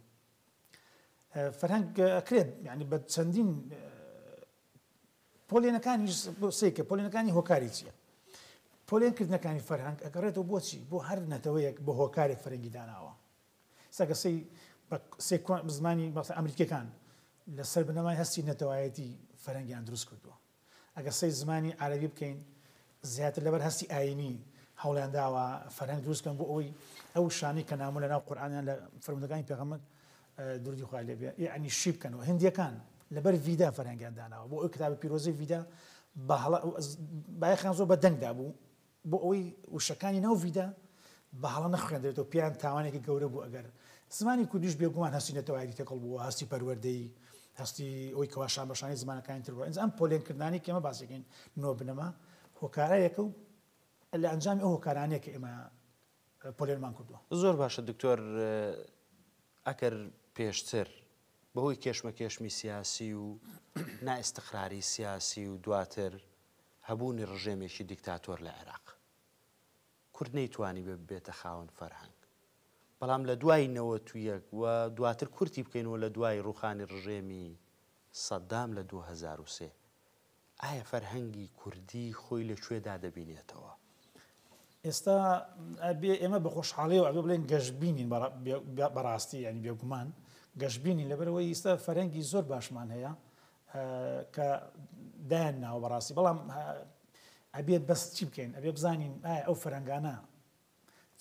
فەرهەنگ ئەکرێت یانی بە چەندین پۆلێنەکانیش بۆ سەیکە پۆلێنەکانی هۆکاری چییە؟ پۆلێن کردنەکانی فەرهەنگ ئەگەڕێتەوە بۆچی بۆ هەر نەتەوەیەک بە هۆکارێک فەرەنگی داناوە سەگە سەی بە سێکۆن زمانی بەڵتە ئەمریکەکان لەسەر بنەمای هەستی نەتەوایەتی فەرەنگیان دروست کردووە ئەگەر سەی زمانی عربی بکەین زیاتر لەبەر هەستی ئاینی هەوڵیان داوە فەرەنگ دروستکەن بۆ ئەوی ئەو شانی کە نامۆ لە ناو قورآانیان لە فرمودەکانی پێغەمەر دروودی خوای لێ بێ یەعنی شی بکەنەوە هندیەکان لەبەر ڤیدا فەرهەنگیان داناوە بۆ ئەو کتابە پیرۆزەی ڤیدا بە هەڵە بایەخیان زۆر بە دەنگدا بوو بۆ ئەوەی وشەکانی ناو ڤیدا بە هەڵە نەخوێندرێتەوە پێیان تاوانێکی گەورە بوو ئەگەر زمانی کوردیش بێگومان هەستی نەتەوایەتی تێکەڵ بووە هەستی پەروەردەی هەستی ئەوی کەوا شانبەشانی زمانەکانی تر بووە ئینجا ئەم پۆلێنکردنانی کێمە باسەکەین نۆ بنەما هۆکارە یەکە و لە ئەنجامی ئەو هۆکارانەیە کە ئێمە پۆلێنمان کردووە. زۆر باشە دکتۆر ئەکەر پێشتر بەهۆی کێشمەکێشمی سیاسی و نائستقراری سیاسی و دواتر هەبوونی ڕژێمێکی دیکتاتۆر لە عێراق کورد نەیتوانی بێ ببێتە خاوەن فەرهەنگ بەڵام لە دوای نەوە تو یەک و دواتر کورتی بکەینەوە لە دوای ڕوخانی ڕژێمی سەددام لە 2023 ئایا فەرهەنگی کوردی خۆی لە کوێدا دەبینێتەوە؟ ئێستا ئەبێ ئێمە بە خۆشحاڵیەوە ئەبێ بڵێن گەشبینین بەڕاستی ینی بێگومان گەشبینین لەبەرەوەی ئیستا فەرەنگی زۆر باشمان هەیە کە دایان ناوە بەڕاستی بەڵام ئەبێت بەس چی بکەین ئەبێ بزانین ئایا ئەو فەرەنگانە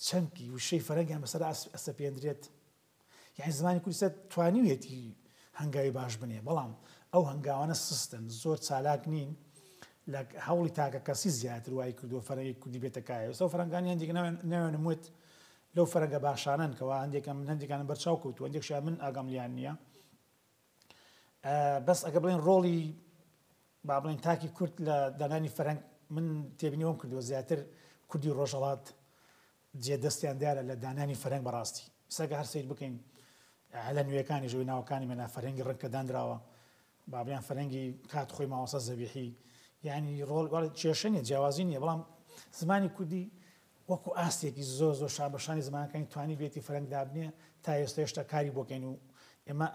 چەمکی وشەی فەرەنگیان بەسەر ئەسە پێندرێت یانی زمانی کوردی توانیویەتی هەنگاوی باش بنێ بەڵام ئەو هەنگاوانە سستن زۆر چالاک نین لە هەوڵی تاکە کەسی زیاتر وای کردو فەرەی کوردی بێتەکایە سەو فەرەنگانی هەندێک ناوێنم وت لەو فەرەنگە باشانن کەوا هەندێکم من هەندێکانم بەرچاو کەوت و هەندێک شای من ئاگام لیان نییە بەس ئەگە بڵێن ڕۆڵی با بڵێن تاکی کورت لە دانانی فەرەنگ من تێبینیەوەم کردووە زیاتر کوردی ڕۆژەڵات جێ دەستیان دیارە لە دانانی فەرهەنگ بەڕاستی سەگە هەر سەیر بکەین هەلە نوێکانیش وەی ناوەکانی مەلا فەرهەنگی ڕەنگ کە دانراوە بابیان فەرەنگی کات خۆی ماوەسە زەبیحی یعنی ڕۆڵ کێشە نیە جیاوازی نیە بەڵام زمانی کوردی وەکو ئاستێکی زۆر زۆر شان بەشانی زمانەکانی توانی بێتی فەرەنگ دابنێ تا ئێستا هێشتا کاری بۆکەین و ئێمە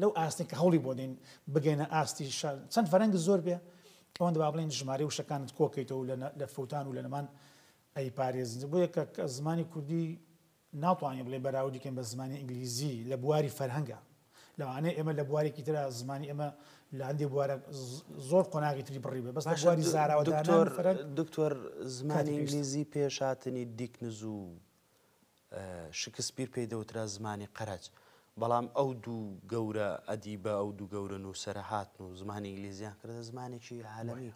لەو ئاستێک کە هەوڵی بۆ دەین بگەینە ئاستی چەند فەرەنگ زۆر بێ ئەوەندە با بڵێین ژمارەی وشەکانت کۆکەیتەوە و لە فەوتان و لە نەمان ئەیپارێزن. بۆیە کە زمانی کوردی ناتوانین بڵێین بەراوردی کەین بە زمانی ئینگلیزی لە بواری فەرهەنگا. لەوانەیە ئێمە لە بوارێکی ترا زمانی ئێمە لە هەندێ بوارە زۆر قۆناغی تری بڕی بێ بەس لە بواری زاراوەدانان و فەرەنگ. دکتۆر زمانی ئینگلیزی پێش هاتنی دیکنز و شکسپیر پێی دەوترا زمانی قەرەج، بەڵام ئەو دوو گەورە ئەدیبە، ئەو دوو گەورە نووسەرە هاتن و زمانی ئینگلیزییان کردە زمانێکی عالەمی.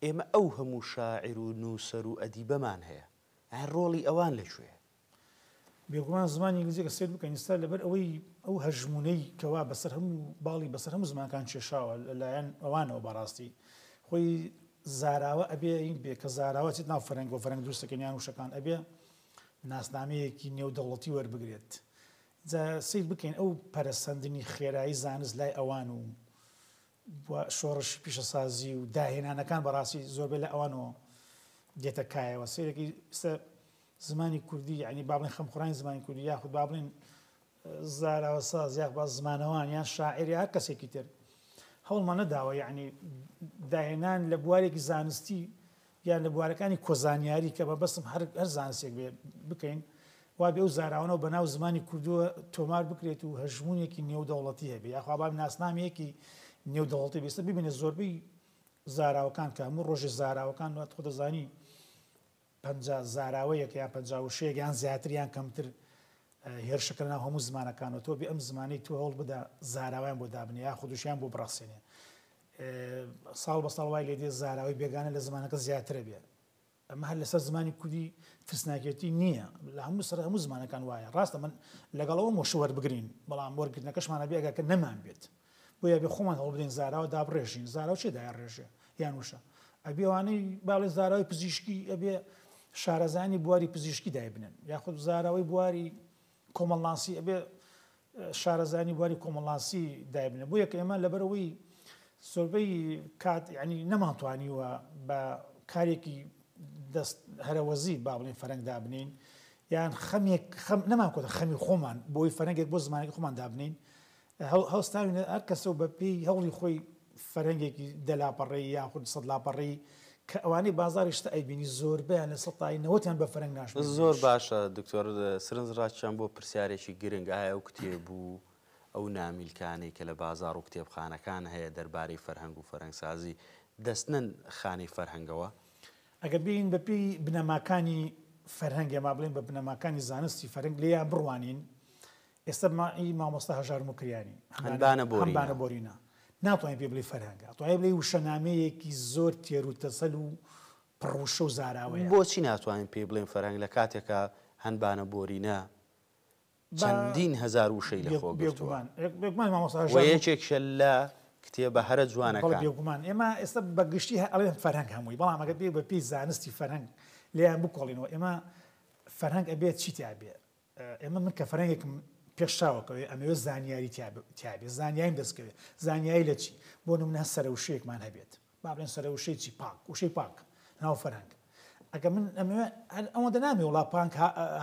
ئێمە ئەو هەموو شاعیر و نووسەر و ئەدیبەمان هەیە، ئایا ڕۆڵی ئەوان لە کوێیە؟ بێگومان زمانی ئینگلیزی ئەگەر سەیر بکەین ئیستا لەبەر ئەوەی ئەو هەژموونەی کەوا بەسەر هەموو باڵی بەسەر هەموو زمانەکان کێشاوە لەلایەن ئەوانەوە بەڕاستی خۆی زاراوە ئەبێ ینگ بێ کە زاراوە ئەچێت ناو فەرەنگ و فەرەنگ دروست دەکەن یان وشەکان ئەبێ ناسنامەیەکی نێودەوڵەتی وەربگرێت جا سەیر بکەین ئەو پەرەسەندنی خێرایی زانست لای ئەوان و و شۆڕشی پیشەسازی و داهێنانەکان بەڕاستی زۆربەی لە ئەوانەوە دێتە کایەوە سەیرەکەی ئێستا زمانی کوردی یعنی با بڵێن خەمخۆرانی زمانی کوردی یاخود با بڵێن زاراوەساز یاخوا زمانەوان یان شاعیر یا هەر کەسێکی تر هەوڵمان نەداوە یانی داهێنان لە بوارێکی زانستی یان لە بوارەکانی کۆزانیاری کە مەبەستم هەر هەر زانسێک بێ بکەین وا بێ و زاراوانەوە بە ناو زمانی کوردووە تۆمار بکرێت و هەژمونێکی نێودەوڵەتی هەبێ یاخوا باب ناسنامەیەکی نێودەوڵەتی بێستە ببینە زۆربەی زاراوەکان کە هەموو ڕۆژێ زاراوەکان وات خۆ دەزانی پەنجا زاراوەیەک یان پەنجا وشەیەک یان زیاتر یان کەمتر هێرشەکە لەناو هەموو زمانەکانەوە تۆ بێ ئەم زمانەی تۆ هەوڵ بدە زاراوەیان بۆ دابنێ یا خودوشیان بۆ بڕەخسێنێ ساڵ بە ساڵ وای لێ دێ زاراوەی بێگانە لە زمانەکە زیاترە بێ ئەمە هەر لەسەر زمانی کوردی ترسناکێتی نییە لە هەموو سەر هەموو زمانەکان وایە ڕاستە من لەگەڵەوە مۆشوەر بگرین بەڵام وەرگرتنەکەشمانە بێگەکە نەمان بێت بۆیە ئەبێ خۆمان هەوڵبدەین زاراوە دابڕێژین زاراو چێ دایڕێژێ یان وشە ئەبێ ئەوانەی باڵێ زاراوی پزیشکی ئەبێ شارەزانی بواری پزیشکی دایبنن یاخود زاراوەی بواری کۆمەڵناسی ئەبێ شارەزانی بواری کۆمەڵناسی دایبنە بۆ یەکە ئێمە لەبەرەوەی زۆربەی کات ینی نەمانتوانیوە بە کارێکی دەست هەرەوەزی با بڵین فەرەنگ دابنین یان خەمێک خەم نەمان کۆتە خەمی خۆمان بۆی فەرەنگێک بۆ زمانێک خۆمان دابنین هەڵستاوینە هەر کەسە و بە پێی هەوڵی خۆی فەرهەنگێکی دە لاپەڕەیی یاخود سەد لاپەڕەیی کە ئەوانەی بازاڕی شتە ئەیبینی زۆربەیان لە سەد تای نەوەت یان بە فەرەنگ ناشمێنن. زۆر باشە دکتۆر سرنج ڕاکێشام بۆ پرسیارێکی گرنگ، ئایا ئەو کتێب و ئەو نامیلکانەی کە لە بازاڕ و کتێبخانەکان هەیە دەربارەی فەرهەنگ و فەرهەنگسازی دەستنەن خانەی فەرهەنگەوە؟ ئەگەر بێین بە پێی بنەماکانی فەرهەنگ یان با بڵێین بە بنەماکانی زانستی فەرهەنگ لێیان بڕوانین ئێستا بما ی مامۆستا هەژار موکریانی، هەنبانە بۆرینە، هەنبانە بۆرینە، ناتوانی پێی بڵێی فەرهەنگە، ئەتوانی بڵێی وشەنامەیەکی زۆر تێروتەسەل و پڕ وشە و زاراوەیە. بۆچی ناتوانین پێی بڵێین فەرهەنگ لە کاتێکا هەنبانە بۆرینە چەندین هەزار وشەی لە خۆ گرتووە و یەکێکیشە لە کتێبە هەرە جوانەکان؟ بەڵێ بێگومان، ئێمە ئێستا بە گشتی ئەڵێن فەرهەنگ هەمووی، بەڵام ئەگەر بێی بە پێی زانستی فەرهەنگ لێیان بکۆڵینەوە، ئێمە فەرهەنگ ئەبێت چی تیا بێ؟ ئێمە من کە فەرەنگێکم پێش چاوەکەوێ ئەمەوێ زانیاری تیابێ زانیاریم دەستکەوێ زانیایی لە چی بۆ نمونە هە سەرە وشەیەکمان هەبێت با بڵێن سەرە وشەی چی پاک وشەی پاک ناو فەرەنگ ئەگە من ئەمەوێ ئەوە دەنامی وڵا پانک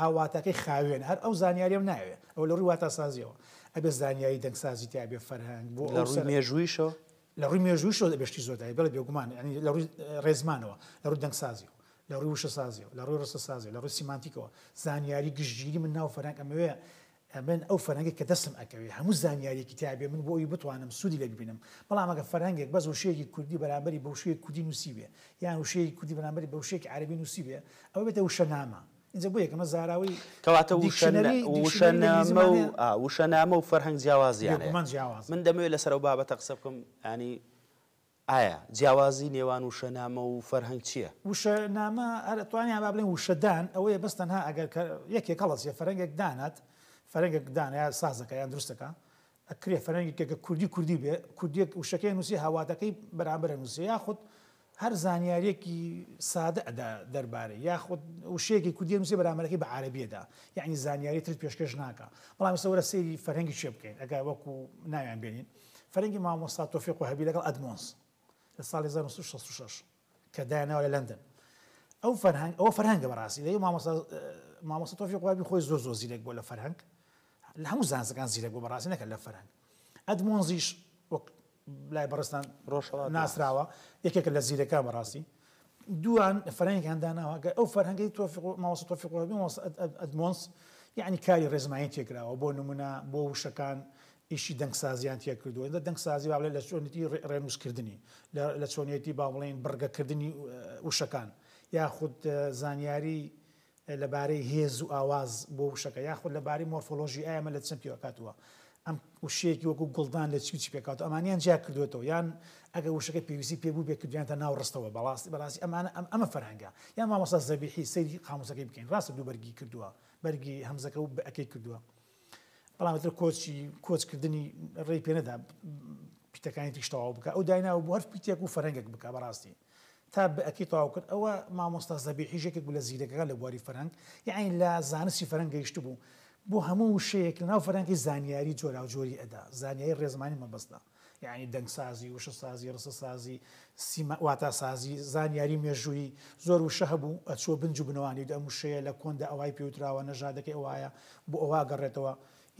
هاواتەکەی خاوێن هەر ئەو زانیاریم ناوێ ئەو لە ڕووی واتاسازیەوە ئەبێ زانیاری دەنگسازی تیابێ فەرهەنگ بۆ لە ڕووی مێژوویشەوە لە ڕووی مێژوویشەوە ئەبێ شتی زۆر دابێ، بەڵێ بێگومان، یانی لە ڕووی ڕێزمانەوە، لە ڕووی دەنگسازی و لە ڕووی وشەسازی و لە ڕووی ڕستەسازی و لە ڕووی سیمانتیکەوە، زانیاری گشتگیری من ناو فەرهەنگ ئەمەوێ، ئەمن ئەو فەرهەنگەی کە دەستم ئەکەوێ هەموو زانیارییەکی تیا بێ من بۆ ئەوی بتوانم سوودی لێ ببینم، بەڵام ئەگەر فەرهەنگێک بەس وشەیەکی کوردی بەرامبەری بە وشەیەکی کوردی نووسیبێ یان وشەیەکی کوردی بەرامبەری بە وشەیەکی عەرەبی نووسیبێ ئەوە بێتە وشەنامە، ئینجا بۆ یەکەمە زاراوەی کەواتە وشە دیکشنەری نە- وشە دیکشنەری لە ئینگلیزی نامە و مانایە ئا، وشە نامە و فەرهەنگ جیاوازیان هەیە بێگومان جیاوازە. من دەمەوێت لەسەر ئەو بابەتە قسە بکەم یانی ئایا جیاوازی نێوان وشە نامە و فەرهەنگ چییە؟ وشە نامە هەر ئەتوانین یان با بڵێین وشە دان ئەوەیە بەس تەنها ئەگەر کە یەکێک هەڵەچێ فەرەنگێک دانات فەرەنگێک دانە یا سازەکە یان دروستەکە ئەکرێ فەرەنگێک کە کوردی کوردی بێ کوردیەک وشەکەی نووسێ هاوواتەکەی بەرامبەر ئەنووسێ یاخود هەر زانیاریەکی سادە ئەدا دەربارەی یاخود وشەیەکی کوردی ئەنووسێ بەرامبەرەکەی بە عەرەبی ئەدا یانی زانیاری ترت پێشکەش ناکا بەڵام ئێستا وەرە سەیری فەرەنگی چێ بکەین ئەگا وەکو ناویان بێنین فەرەنگی مامۆستا تۆفیق وەهەبی لەگەڵ ئەدمۆنس لە ساڵی 1966 کە دایانناوە لە لەندەن ئەو فەرهەنگ ئەوە فەرهەنگە بەڕاستی دەی مامۆستا مامۆستا تۆفیق وابی خۆی زۆر زۆر زیرەک بۆ لە فەرهەنگ لە هەموو زانستەکان زیرەک بۆ بەڕاستی نەکە لە فەرهەنگ ئەدمۆنزیش وەک لای بەڕستان ڕۆژهەڵات ناسراوە یەکێکە لە زیرەکان بەڕاستی دوان فەرەنگیان داناوە گە ئەو فەرهەنگی تۆفیق ماوەسە تۆفیق وابی مۆس ئەدمۆنس یعنی کاری ڕێزمانی تێکراوە بۆ نمونە بۆ وشەکان ئیشی دەنگسازیان تیا کردووە ئێستا دەنگسازی با بڵێین لە چۆنێتی ڕێنووسکردنی لە چۆنێتی با بڵێین بڕگەکردنی وشەکان یاخود زانیاری لەبارەی هێز و ئاواز بۆ وشەکە یاخود لەبارەی مۆرفۆلۆژی ئایا مە لە چەند پێوە کاتووە ئەم وشەیەکی وەکو گوڵدان لە چی چی پێکات ئەمانیان جیا کردوێتەوە یان ئەگە وشەکە پێویستی پێ بوو بێکردیان تا ناو ڕستەوە بەڵاستی بەڕاستی ئەمانە ئەم ئەمە فەرهەنگە یان مامۆستا زەبیحی سەیری قاموسەکەی بکەین ڕاستە دوو بەرگی کردووە بەرگی هەمزەکە و بەکەی کردووە بەڵام تر کۆچی کۆچ کردنی ڕێی پێنەدا پیتەکانی تیش تەواو بکە ئەو دایناوە بۆ هەر پیتێک و فەرەنگێک بکە بەڕاستی تا بەکی تەواو کرد ئەوە مامۆستا زەبیحیش یەکێک بوو لە زیرەکەکان لە بواری فەرەنگ یعنی لە زانستی فەرەنگ گەیشتبوو بۆ هەموو وشەیەک لەناو فەرەنگی زانیاری جۆراوجۆری ئەدا زانیاری ڕێزمانی مەبەستە یانی دەنگسازی، وشەسازی، ڕستەسازی، سیما، واتاسازی، زانیاری مێژوویی، زۆر وشە هەبوو ئەچووە بنج و بنەوانی، ئەم وشەیە لە کۆندا ئەوای پێوتراوە، نەژادەکەی ئەوایە، بۆ ئەوە ئەگەڕێتەوە.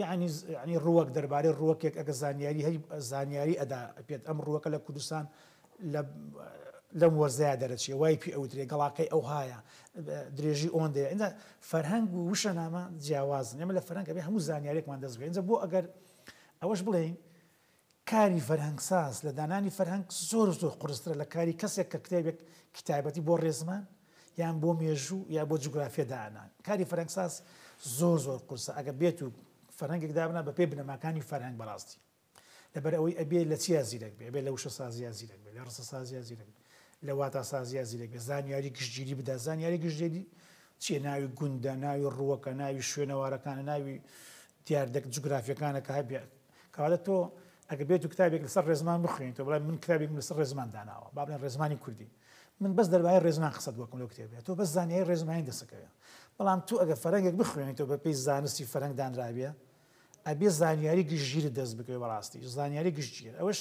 یانی یانی ڕووەک، دەربارەی ڕووەکێک ئەگەر زانیاری هەی زانیاری ئەدا پێت، ئەم ڕووەکە لە کوردستان لە لەم وەرزەیا دەرەچێ، وای پێ ئەوترێ، گەڵاکەی ئەوهایە، درێژی ئۆندەیە. ئینجا فەرهەنگ و وشەنامە جیاوازن، ئێمە لە فەرهەنگ ئەبێ هەموو زانیاریەکمان دەست بێ. ئینجا بۆ ئەگەر ئەوەش بڵێین کاری فەرهەنگساز لە دانانی فەرهەنگ زۆر و زۆر قورسترە لە کاری کەسێک کە کتێبێک کتابەتی بۆ ڕێزمان یان بۆ مێژوو یا بۆ جوگرافیە دانان کاری فەرەنگساز زۆر زۆر قورسە ئەگە بێت و فەرەنگێک دابنا بە پێی بنەماکانی فەرهەنگ بەڕاستی لەبەر ئەوەی ئەبێ لە چیا زیرەک بێ بێ لە وشە سازیا زیرەک بێ لە ڕسە سازیا زیرەک لە واتا سازیا زیرەک بێ زانیاری گشتگیری بدا زانیاری گشتێری چیە ناوی گوندە ناوی ڕووەکە ناوی شوێنەوارەکانە ناوی دیاردە جوگرافییەکانە کە هەبێت. کەواتە تۆ ئەگەر بێتو کتابێک لەسەر ڕێزمان بخوێنیتەوە، بڵێ من کتابێکم لەسەر ڕێزمان داناوە، با بڵێن ڕێزمانی کوردی، من بەس دەربارەی ڕێزمان قسەت بۆ ئەکەم لەو کتێبەیە، تۆ بەس زانیاری ڕێزمانی دەست ئەکەوێ. بەڵام تۆ ئەگەر فەرهەنگێک بخوێنیتەوە بە پێی زانستی فەرهەنگ دانرابێ، ئەبێ زانیاری گشتگیرت دەست بکەوێ بە ڕاستی، زانیاری گشتگیر. ئەوەش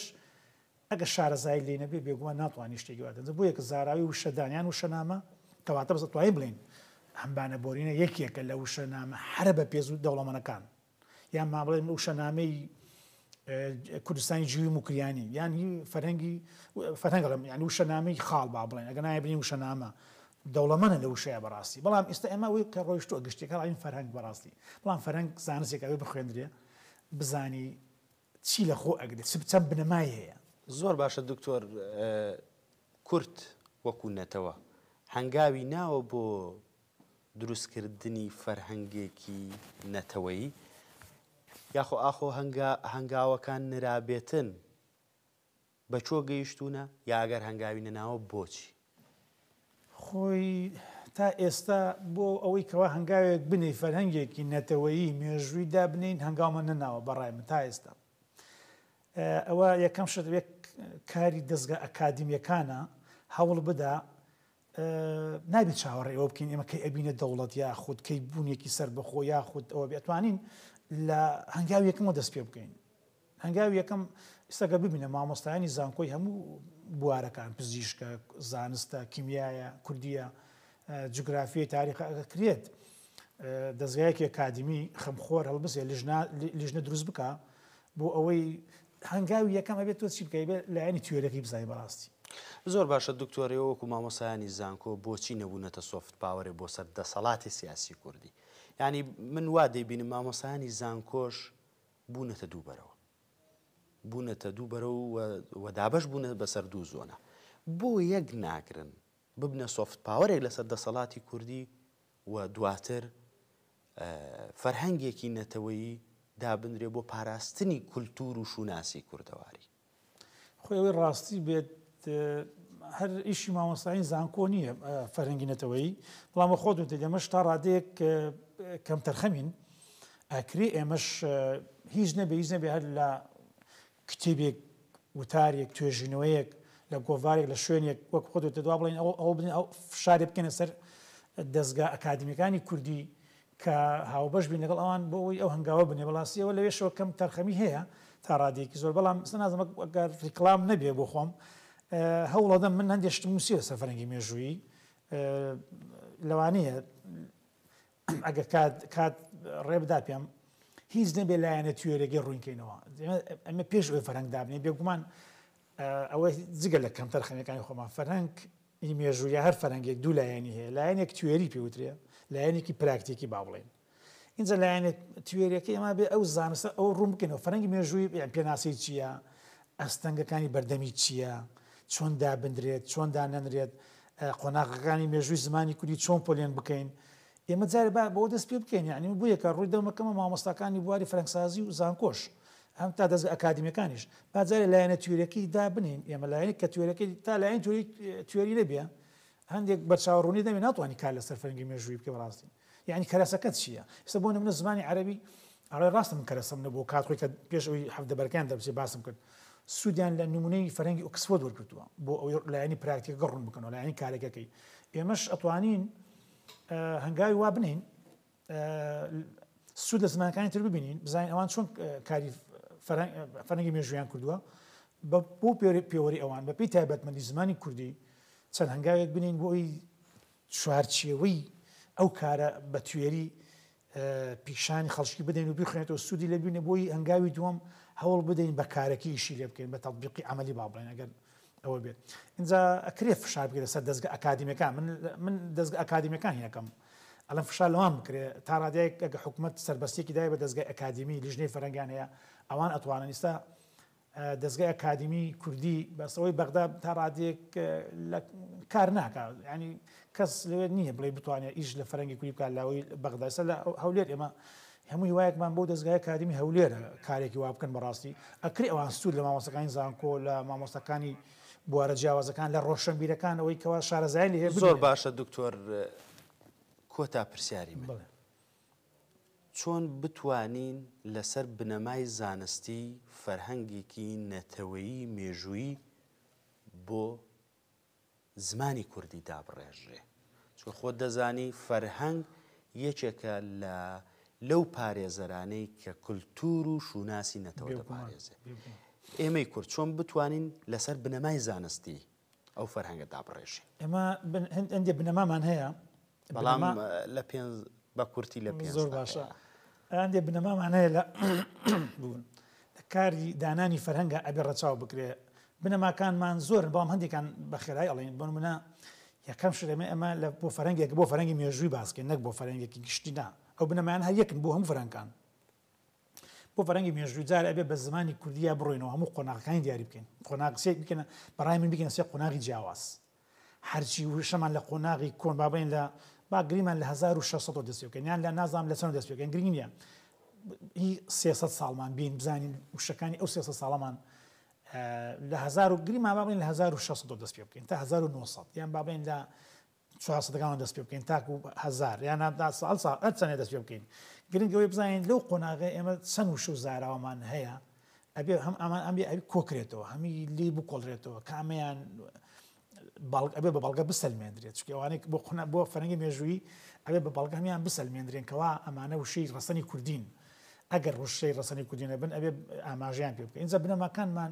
ئەگەر شارەزایی لێی نەبێت بێگومان ناتوانێت شتێکی وا دەربڕێت، بۆ یەکە زاراوەی وشەدان یان وشەنامە کەواتە بەس دەتوانین بڵێین ئەم بانە بۆرینە یەکێکە لە وشەنامە هەرە بەپێز و دەوڵەمەنەکان یان با بڵێین وشەنامەی کوردستانی جوی موکریانی یان هی فەرهەنگی فەرهەنگ دەڵێم یان وشەنامەی خاڵ با بڵێن ئەگەر نایە بڵێین وشەنامە دەوڵەمەنە لە وشەیە بەڕاستی بەڵام ئێستا ئێمە ئەوەی کە ڕۆیشتووە گشتێکە ڕایین فەرهەنگ بەڕاستی بەڵام فەرهەنگ زانستێک ئەوێ بخوێندرێ بزانی چی لە خۆ ئەگرێ چ چەند بنەمای هەیە؟ زۆر باشە دکتۆر کورد وەکو نەتەوە هەنگاوی ناوە بۆ دروستکردنی فەرهەنگێکی نەتەوەیی یاخۆ ئاخۆ هەنگاوەکان نرابێتن؟ بە چۆ گەیشتونە یا ئەگەر هەنگاوی نەناوە بۆچی؟ خۆی تا ئێستا بۆ ئەوەی کەوا هەنگاوێک بنێی فەرهەنگێکی نەتەوەیی مێژووی دابنێین هەنگاومان نەناوە بەڕای من تا ئێستا ئەوە یەکەم شت یەک کاری دەستگا ئەکادمیەکانە هەوڵ بدا نابێت چاوەڕێ ئەوە بکەین ئێمە کەی ئەبینە دەوڵەت یا خود کەی بوونێکی سەر بەخۆ یا خود ئەوە بێتوانین لە هەنگاویەکەمەوە دەست پێ بکەین هەنگاوی یەکەم ئیستا گەر ببینە مامۆستایانی زانکۆی هەموو بوارەکان پزیشکە، زانستە، کیمیایە، کوردیە، جوگرافیە، تاریخە، ئەگەر کرێت دەزگایەکی ئەکادیمی خەمخۆر هەڵبسێ لیژنە دروست بکا بۆ ئەوەی هەنگاوی یەکەم ئەبێت تۆ چی بکەی بێت لایەنی تیۆرەکەی بزای بەڕاستی زۆر باشە دکتۆرەوە وەکو مامۆسایانی زانکۆ بۆچی نەبوونەتە سۆفت پاوەێ بۆ سەر دەسەڵاتی سیاسی کوردی ینی من وا دەیبینم مامۆسایانی زانکۆش بوونەتە دوو بەرەو بوونەتە دوو بەرە و و دابش بوونە بەسەر دوو زۆنە بۆ یەک ناگرن ببنە سۆفت پاوەێک لەسەر دەسەڵاتی کوردی و دواتر فەرهەنگێکی نەتەوەیی دابنرێ بۆ پاراستنی کولتور و شوناسی کوردەواری خۆی ئەوەی ڕاستی بێت هەر ئیشی مامۆستایین زانکۆ نییە فەرەنگی نەتەوەیی بەڵام بە خۆت وتە دەمەش تا ڕادەیەک کەم تەرخەمین ئەکری ئێمەش هیچ نەبێ هیچ نەبێ هەر لە کتێبێک وتارێک توێژینەوەیەک لە گۆڤارێک لە شوێنێک وەک خۆ دەدوا بڵین ئەو ئەو بڵین ئەو فشارێ بکەنە سەر دەستگا ئەکادمیەکانی کوردی کە هاوبەش بین لەگەڵ ئەوان بۆ ئەوەی ئەو هەنگاوە بنێ بەڵاستی ئەوە لەوێشەوە کەم تەرخەمی هەیە تا ڕادەیەکی زۆر بەڵام ئستا نازم گەر ڕیکلام نەبێ بۆ خۆم هەوڵەدەم من هەندێ شتم نووسی لە سەفرەنگی مێژوویی لەوانەیە ئەگە کات کات ڕێبدا پێم هیچ نەبێ لایەنە توێرەگەی ڕوونکەینەوە ئەمە پێش ئەوی فەرەنگ دابنێ بێگومان ئەوە جگە لە کەمتەر خەنەکانی خۆمان فەرەنگ ی مێژوو یا هەر فەرهەنگێک دوو لایەنی هەیە لایەنێک توێری پێ وترێ لایەنێکی پراکتیکی با بڵێین ئینجا لایەنێ توێریەکەی ئەما بێ ئەو زانستە ئەو ڕوون بکەنەوە فەرەنگی مێژووی پێناسی چییە ئەستەنگەکانی بەردەمی چییە چۆن دابدرێت چۆن دانەنرێت قۆناغەکانی مێژووی زمانی کوردی چۆن پۆلێن بکەین ئێمە جارێ با بەوە دەست پێ بکەین یانی من بویەکە ڕووی دەمە کەمە مامۆستاکانی بواری فرەنگسازی و زانکۆش هەم تا دەزگە ئەکادیمیەکانیش با جارێ لایەنە تیۆریەکەی دا بنێین ئێمە لایەنێک کە تیۆرەکەی تا لایەنی تیۆری تیۆری نەبێ هەندێک بەرچاو ڕوونی دەمێ ناتوانانی کار لەسەر فەرنگی مێژووی بکە بەڕاستی یعنی کەرەسەکەت چییە ئستا بۆ نمونە زمانی عربی ئەڵێ ڕاستە من کەرەسەم نەبوو کات خۆی کە پێش ئەوی هەفتە بەرکان دەبچێ باسم کرد سوودیان لە نمونەی فەرەنگی ئۆکسفۆرد وەرگتووە بۆ ئەوەی لایەنی پراکتیکە گەڕون بکەنەوە لایەنی کارەکەکەی ئێمەش ئەتوانین هەنگاوی وا بنێین سوود لە زمانەکانی تر ببینین بزانین ئەوان چۆن کاری فەرەنگی مێژویان کردووە بە بۆ پێوەری ئەوان بە پێی تایبەتمەندی زمانی کوردی چەند هەنگاوێک بنین بۆ ئەوی چوارچێوەی ئەو کارە بە توێری پیشانی خەڵکی بدەین و بخوێنێتەوە سوودی لێ ببینێ بۆی هەنگاوی دووەم هەوڵ بدەین بە کارەکی ئیشی لێ بکەین بە تەطبیقی عملی با بڵێن ئەگەر ئەوە بێت اینجا ئەکرێ فشار بکرێت سەر دەستگە ئەکادیمیەکان من من دەستگە ئەکادیمیەکان هینەکەم ئەلم فشار لەوان بکرێت تا ڕادایەک ئەگە حکوومەت سربەستێکی دای بە دەستگای ئەکادیمی لیژنەی فەرەنگان هەیە ئەوان ئەتوانن ئیستا دەزگای ئەکادیمی کوردی بەس ئەوەی بەغدا تا ڕادەیەک لە کار ناکا ینی کەس لەوێت نییە بڵێ بتوانێت ئیش لە فەرەنگی کوری بکات لاوەی بەغداسە لە هەولێر ئێمە هەموو هیوایەکمان بۆ دەستگای کاریمی هەولێرە کارێکی وا بکەن بەڕاستی ئەکری ئەوان سوود لە مامۆسەکانی زانکۆ لە مامۆستەکانی بوارە جیاوازەکان لە ڕۆشنبیرەکان ئەوەی کەوا شارەزای لێ زۆر باشە دکتۆر کۆتا پرسیاری من چۆن بتوانین لەسەر بنەمای زانستی فەرهەنگێکی نەتەوەیی مێژوویی بۆ زمانی کوردی دابڕێژرێ؟ چون خۆت دەزانی فەرهەنگ یەکێکە لە لەو پارێزەرانەی کە کللتور و شوناسی نەتەوە دەپارێزێ ئێمەی کورد چۆن بتوانین لەسەر بنەمای زانستی ئەو فەرهەنگە دابڕێژێ. ئێمە هەندێ بنەمامان هەیە، بەڵام لە پێنج بە کورتی لە پێنج زۆر باشە هەندێ بنەمامان هەیە لە بوون لە کاری دانانی فەرهەنگە ئەبێ ڕەچاو بکرێ بنەماکانمان زۆر بەڵام هەندێکان بە خێرای ئەڵێن بۆ منە یەکەم شرێمە ئەمە لە بۆ فەرەنگێک بۆ فەرەنگی مێژووی باسکە نەک بۆ فەرەنگێکی گشتیدا ئەو بنەمان هەر یەکن بۆ هەم فەرەنکان بۆ فەرەنگی مێژووی جار ئەبێ بە زمانی کوردیا بڕۆینەوە هەموو قۆناغەکانی دیاری بکەین قۆناغ سێک بکەنە بەڕای من بگەنە سێ قۆناغی جیاواز هەرچی وشەمان لە قۆناغی کۆن بابین لە باگریمان لە 1600 دەست بکەن یان لە نازام لە چەند دەست بکەن گرنگ نیە هی 300 ساڵمان بین بزانین وشەکانی ئەو 300 ساڵەمان لە هزار و گریمان بابین لە 1600 دەست پێ بکەین تا 1900 یان بابین لە چوار سەد گاڵم دەست پێ بکەین تاکو هەزار یان هەتا ساڵ ساڵ هەر چەنێ دەست پێ بکەین گرنگ ئەوەی بزانین لەو قۆناغەی ئێمە چەن وشە و زاراوەمان هەیە ئەبێ هەم ئەمان ئەم ئەوی کۆکرێتەوە هەمی لی بکۆڵرێتەوە کامیان باڵک ئەبێ بە بەڵگە بسەلمێندرێت چکەوانێک بۆ قونا بۆ فەرەنگی مێژووی ئەبێ بە بەڵگەمیان بسەلمێندرێن کەوا ئەمانە وشەی ڕسەنی کوردین ئەگەر ڕوشەی ڕسەنی کوردینە بن ئەبێ ئاماژیان پێ بکە ئینجا بنەماکانمان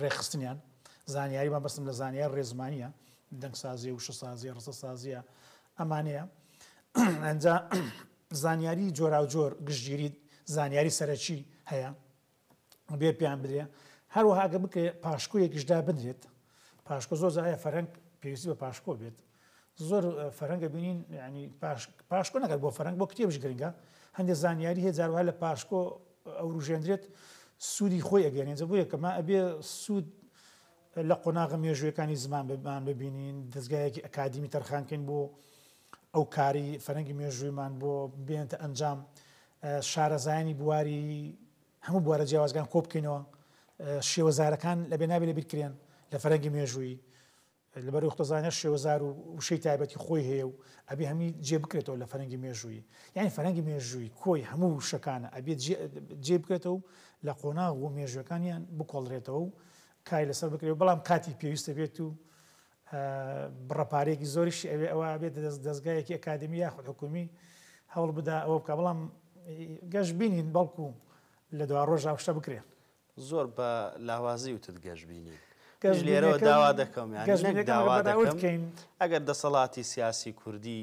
ڕێکخستنیان زانیاری مەبەستم لە زانیاری ڕێزمانیە دەنگسازی وشە سازیە ڕسە سازیە ئەمانەیە ئەجا زانیاری جۆرا جۆر گشتگیری زانیاری سەرەکی هەیە بێ پێیان بدرێ هەروەهاگە بکرێت پاشکۆیەکیشدا بدرێت پاشکۆ زۆر زایە فەرەنگ پێویستی بە پاشکۆ بێت زۆر فەرەنگە بینین یعنی پاشکۆ نەکات بۆ فەرەنگ بۆ کتێبش گرنگە هەندێک زانیاری هەیە جاروها لە پاشکۆ ئەوروژێندرێت سوودی خۆی ئەگەێنێن جە بۆ یەکەمە ئەبێ سوود لە قۆناغە مێژوەکانی زمان بمان ببینین دەستگایەکی ئەکادیمی تەرخانکەین بۆ ئەو کاری فەرەنگی مێژوویمان بۆ بێنتە ئەنجام شارەزایانی بواری هەموو بوارە جیاوازگان کۆبکەینەوە شێوەزارەکان لە بێنابێ لە بیرکرێن لە فەرەنگی مێژووی لەبەر ئەوەی قوتازانی هەر شێوەزار و وشەی تایبەتی خۆی هەیە و ئەبێ هەمووی جێ بکرێتەوە لە فەرهەنگی مێژوویی. یانی فەرهەنگی مێژوویی کۆی هەموو وشەکانە ئەبێ جێ بکرێتەوە و لە قۆناغ و مێژووەکانیان بکۆڵرێتەوە و کاری لەسەر بکرێ و بەڵام کاتی پێویست ئەبێت و بڕە پارەیەکی زۆریشی ئەوێ ئەوە ئەبێت دەزگایەکی ئەکادمی یاخود حکومی هەوڵ بدا ئەوە بکا بەڵام گەشبینین بەڵکو لە دوا ڕۆژا ئەو شتە بکرێ. زۆر بە لاوازی وتت گەشبینین. من لێرەوە داوا دەکەم یانی نەک داوا دەکەم ئەگەر دەسەڵاتی سیاسی کوردی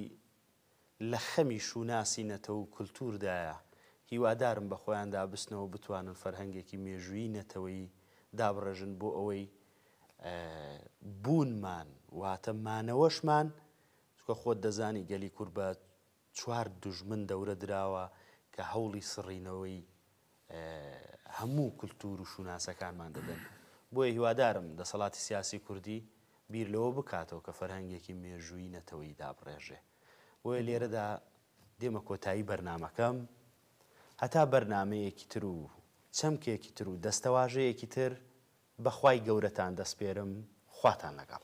لە خەمی شوناسی نەتەوە و کولتووردایە، هیوادارم بە خۆیاندا بچنەوە بتوانن فەرهەنگێکی مێژوویی نەتەوەیی دابڕێژن بۆ ئەوەی بوونمان واتە مانەوەشمان، چونکە خۆت دەزانی گەلی کورد بە چوار دوژمن دەورە دراوە کە هەوڵی سڕینەوەی هەموو کلتور و شوناسەکانمان دەدەن. بۆیە هیوادارم دەسەڵاتی سیاسی کوردی بیر لەوە بکاتەوە کە فەرهەنگێکی مێژوویی نەتەوەیی دابڕێژێ. بۆیە لێرەدا دێمە کۆتایی بەرنامەکەم. هەتا بەرنامەیەکی تر و چەمکێکی تر و دەستەواژەیەکی تر بە خوای گەورەتان دەسپێرم. خواتان لەگەڵ.